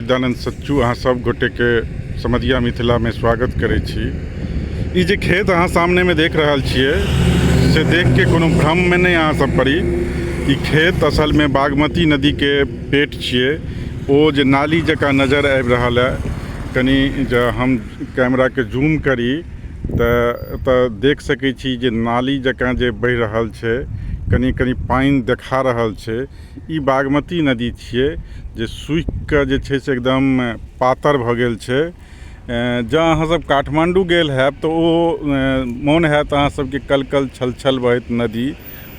गजानन्द सच्चू अहाँ सब गोटेके समधिया मिथिलामे स्वागत करै छी ई जे खेत अहाँ सामनेमे देख रहल छियै से देखके कोनो भ्रममे नहि अहाँ सब पड़ी ई खेत असलमे बागमती नदीके पेट छियै ओ जे नाली जकाँ नजर आबि रहल है कनि जे हम कैमराके जूम करी तऽ एतऽ देख सकै छी जे नाली जकाँ जे बहि रहल छै कनि कनि पानि देखा रहल छै ई बागमती नदी छियै जे सूखि कऽ जे छै से एकदम पातर भऽ गेल छै जँ अहाँ सब काठमाण्डू गेल होयब तऽ ओ मोन होयत अहाँ सबके कल कल छल छल बहैत नदी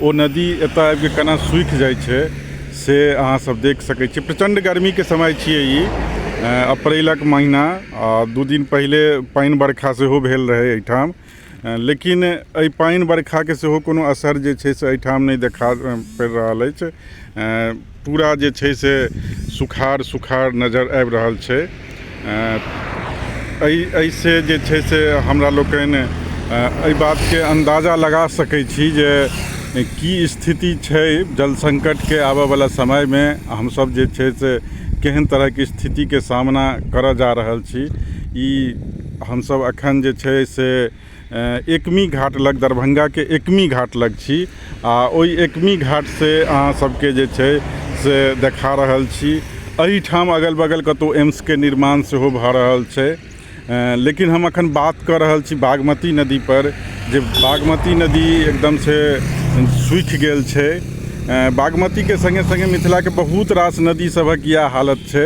ओ नदी एतऽ आबि कऽ केना सूखि जाइ छै से अहाँ सब देख सकै छियै प्रचण्ड गरमीके समय छियै ई अप्रैलक महीना आओर दू दिन पहिले पानि बरखा सेहो भेल रहै अइठाम लेकिन एहि पानि बरखाके सेहो कोनो असर जे छै से एहिठाम नहि देखा पड़ि रहल अछि पूरा जे छै से सुखाड़ सुखाड़ नजर आबि रहल छै एहि एहिसँ जे छै से हमरा लोकनि एहि बातके अन्दाजा लगा सकै छी जे की स्थिति छै जल संकटके आबऽवला समयमे हमसभ जे छै से केहन तरहके स्थितिके सामना करऽ जा रहल छी ई हमसब अखन जे छै से एकमी घाट लग दरभंगाके एकमी घाट लग छी आ ओहि एकमी घाट से अहाँ सबके जे छै से देखा रहल छी एहिठाम अगल बगल कतौ एम्सके निर्माण सेहो भऽ रहल छै लेकिन हम अखन बात कऽ रहल छी बागमती नदी पर जे बागमती नदी एकदम से सूखि गेल छै बागमतीके सङ्गे सङ्गे मिथिलाके बहुत रास नदी सभक इएह हालत छै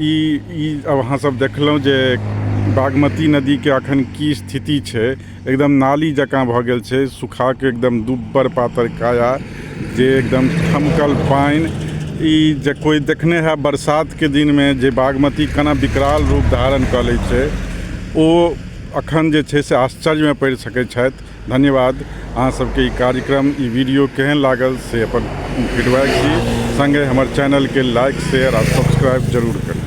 ई ई अब अहाँ सब देखलहुँ जे बागमती नदीके अखन की स्थिति छै एकदम नाली जकाँ भऽ गेल छै सुखाके एकदम दुब्बर पातर काया जे एकदम ठमकल पानि ई जे कोइ देखने है बरसातके दिनमे जे बागमती केना विकराल रूप धारण कऽ लै छै ओ अखन जे छै से आश्चर्यमे पड़ि सकैत छथि धन्यवाद अहाँ सबके ई कार्यक्रम ई वीडियो केहन लागल से अपन फीडबैक दी संगे हमर चैनल के लाइक शेयर आ सब्सक्राइब जरूर करी